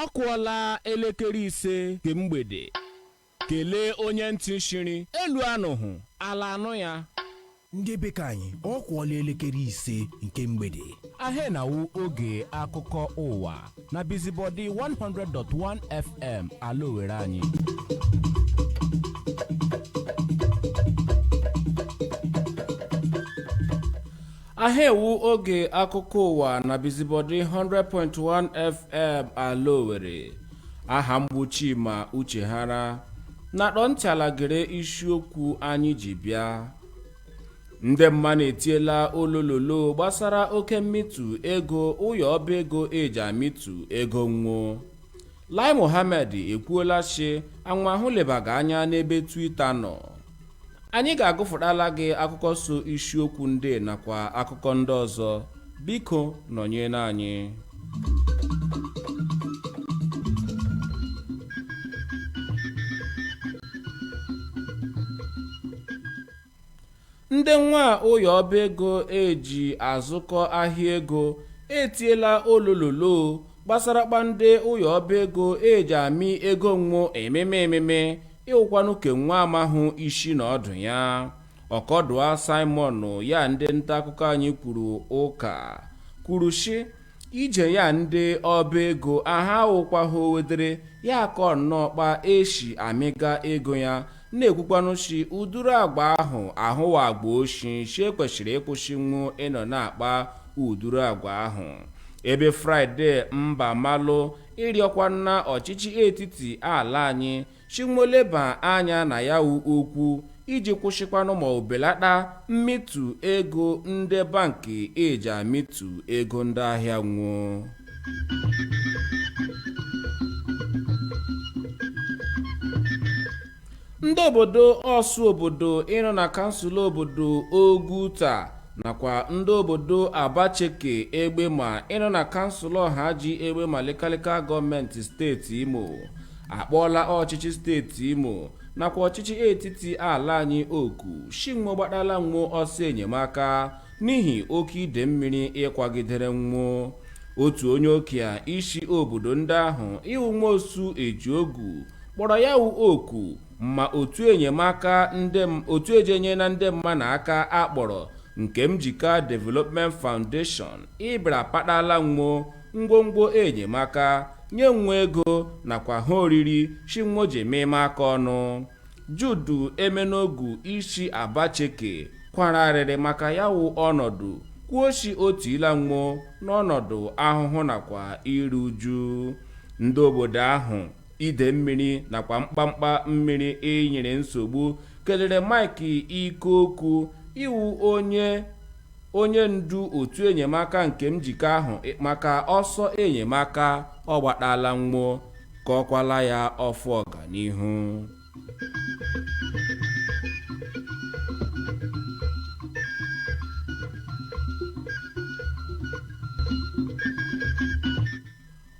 ọ kụọla elekere ise nke mgbede kelee onye ntị shiri elu anụhụ ala anụ ya ndị be ke anyị ọ kụọla elekere ise nke mgbede aha na-awụ oge akụkọ ụwa na bizibọdi 100.1 fm ala owere anyị aha ịwụ oge akụkọ ụwa na bizibọdị 100.1 fm ala owere aha m bụ chima uchehara na-akpọ ntị ala gere isiokwu anyị ji bịa ndị mmanụ etiela olololo gbasara oke mmịtụ ego ụyọ ọba ego eji amịtụ ego nwo lai mohammed ekwuola shi anwahụ lebaga anya n'ebe twitter nọ anyị ga-agụfụtala gị akụkọ so isiokwu ndị a nakwa akụkọ ndị ọzọ biko nọnyere anyị ndị nwa ụyọ ọba ego eji azụkọ ahịa ego etiela olololo gbasara kpa ndị ụyọ ọba ego eji amị ego nwo ememe ememe ịwụkwanụ ke nwo amahụ ishi na ọdụ ya ọkọdụa simon ya ndị nta akụkọ anyị kwuru ụka kwuru shị ije ya ndị ọba ego aha awụkwahụ owedere ya akọ nnọọ kpa eshi amịga ego ya na-ekwukwanụ shi uduru agwa ahụ awụ agwa oshi shi e kweshịrị ịkwụshị nwo ịnọ na-akpa uduru agwa ahụ ebe friday mbamalụ ịrịọkwanụ ọchịchị etiti ala anyị shi nwo leba anya na ya wụ okwu iji kwụsịkwanụ ma o belata mmịtụ ego ndị bank eji amịtụ ego ndị ahịa nwo ndị obodo orsu obodo ịnọ na kansụl obodo oguta nakwa ndị obodo abacheke egbema ịnọ na kansụl ọhaji egbema lokal gọọmenti steeti imo akpọọla ọchịchị steeti imo nakwa ọchịchị etiti ala anyị oku shi nwo gbatala nwo ọsọ enyemaka n'ihi oke ide mmiri ịkwagidere nwo otu onye okia isi obodo ndị ahụ ịwụ Nwosu Ejiogu kpọrọ ya wụ oku ma otu enyemaka ndị otu eji enyere ndị mmanụ aka a kpọrọ Nkemjika Development Foundation ịbịara patala nwo ngwongwo enyemaka nye nwo ego nakwa ha oriri shi nwo ji ememe aka ọnụ Jude Emenogu isi Abacheke kwara arịrị maka ya wụ ọnọdụ kwuo shi o tiila nwo n'ọnọdụ ahụhụ nakwa iru uju ndị obodo ahụ ide mmiri nakwa mkpamkpa mmiri inyere nsogbu kelere Mike Ikoku ịwụ onye onye ndu otu enyemaka nke njikọ ahụ maka ọsọ enyemaka ọ gbataala nwo gọọkwala ya ọfọ ọganihu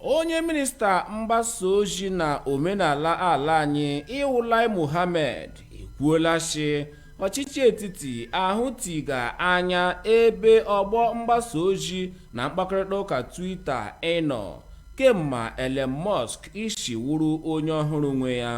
Onye minista mgbasa ozi na omenala ala anyị ịwụ Lai Mohammed ekwuola shi ọchịchị etiti ahụ tiga anya ebe ọgbọ mgbasa ozi na mkpakọrịta ụka Twitter ịnọ kemma Elon Musk isi wụrụ onye ọhụrụ nwe ya.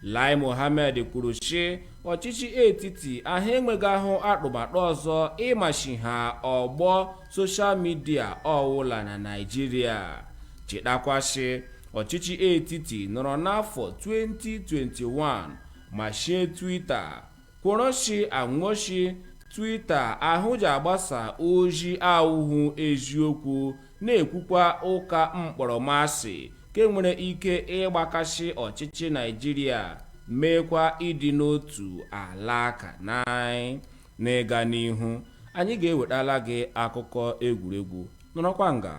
Lai Mohammed kwuru shi ọchịchị etiti ahụ enweghị ahụ atụmatụ ọzọ ịmachi ha ọgbọ soshal midia ọwụla na naijiria chetakwa shi ọchịchị etiti nọrọ n'afọ 2021 mashie twita kwọrọ shi a nwo shi twita ahụ ji agbasa ozi awụhụ eziokwu na-ekwukwa ụka mkpọrọmasị ke nwere ike ịgbakasị ọchịchị naijiria meekwa ịdị n'otu ala ka nai N'ịga n'ihu, anyị ga-ewetala gị akụkọ egwuregwu. Nọrọkwa nga.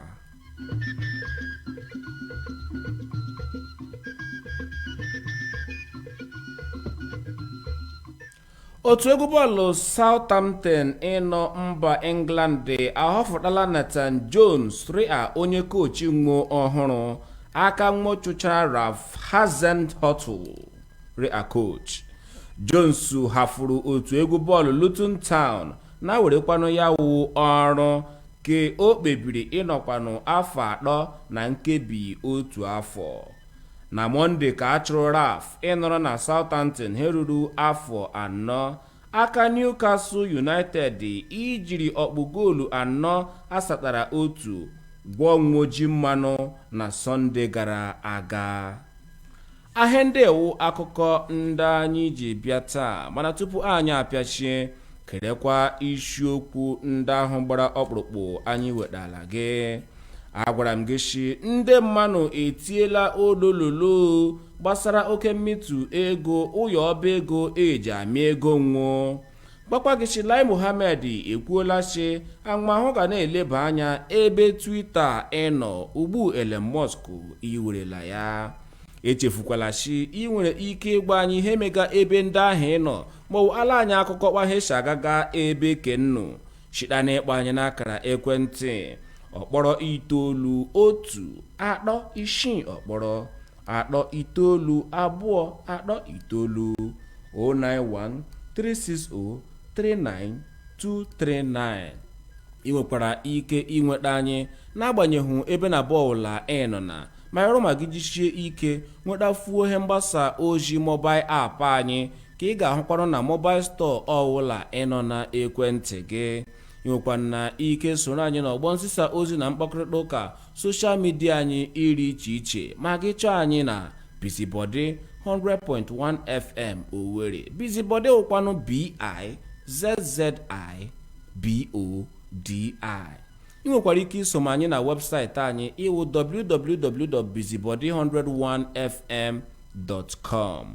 otu egwu bọọlụ Southampton ịnọ mba England ahọfụtala Nathan Jones rịa onye kochi nwo ọhụrụ aka nwo chụchaa Ralph Hasenhuttl Rịa coach. Jones hafụrụ otu egwu bọọlụ Luton Town na werekwanụ ya wụ ọrụ ke o kpebiri ịnọkwanụ afọ atọ na nkebi otu afọ. Na Mọnde ka a chụrụ Ralph ịnọrọ na Southampton he ruru afọ anọ. Aka Newcastle United ijiri ọkpụ goolu anọ asatara otu gwọọ nwo ji mmanụ na Sọnde gara aga. ahịa ndị a wụ akụkọ ndị anyị ji bịa taa mana tupu anyị apịachie gerekwa isiokwu ndị ahụ gbara ọkpụrụkpụ anyị wetara gị agwara m gị shi ndị mmanụ etiela olololo gbasara oke mmịtụ ego ụyọ ọba ego eji amị ego nwo Gwakwa gị shi Lai Mohammed ekwuola sị ahụmahụ ga na-eleba anya ebe Twitter ịnọ ugbu Elon Musk iwerela ya. Echefukwala sị ị nwere ike ịgwa anyị ihe mega ebe ndị ahụ ịnọ maọbụ ala anyị akụkọ kpa ihe si agaga ebe ke nnu shita na ịkpọ anyị n'akara ekwentị ọkpọrọ itoolu otu atọ isii ọkpọrọ atọ itoolu abụọ atọ itoolu 09136039239 ị nwekwara ike inweta anyị n'agbanyeghị ebe na mba ọwụla ị nọ na ma ịrụ ma gị jishie ike nwetafuo ihe mgbasa ozi mobail app anyị ka ị ga-ahụkwanụ na mobail stọọ ọwụla ị nọ na ekwentị gị ị nwekwara ike soro anyị n'ọgbọ nzisa ozi na mkpakọrịta ụka soshal midia anyị ịrị iche iche ma gị chọọ anyị na bizibọdị 100.1 fm owere bizibọdị wụkwanụ bi zzibodi ị nwekwara ike isoma anyị na webụsaịtị anyị ịwụ www.bizibody101fm.com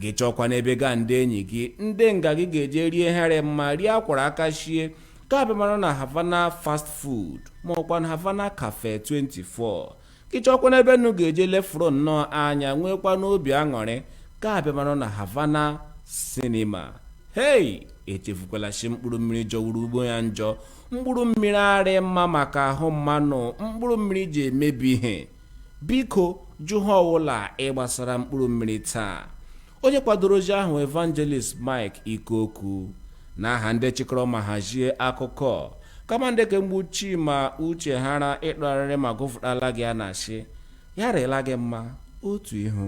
gị chọọkwanụ ebe gị a ndị enyi gị ndị nga gị ga-eje rie ihe rị mma nri a kwọrọ aka shie ka abịamanụ na havana fast food ma ọkwanụ havana cafe 24 gị chọọkwanụ ebe nnu ga-eje lefuro nnọọ anya nwekwanụ obi aṅụrị ka abịamanụ na havana sinima hei echefukwala shi mkpụrụ mmiri jọwuru ugbo ya njọ mkpụrụ mmiri arị mma maka ahụ mmanụ mkpụrụ mmiri ji emebi ihe biko jụ ihe ọwụla ịgbasara mkpụrụ mmiri taa onye kwadoro ozi ahụ evangelist mike ikoku na aha ndị chịkọrọ ma hazie akụkọ kama ndị kemgbe chima uchehara ịtụgharịrị ma gụfụtala gị a na-asị ya rịla gị mma otu ihu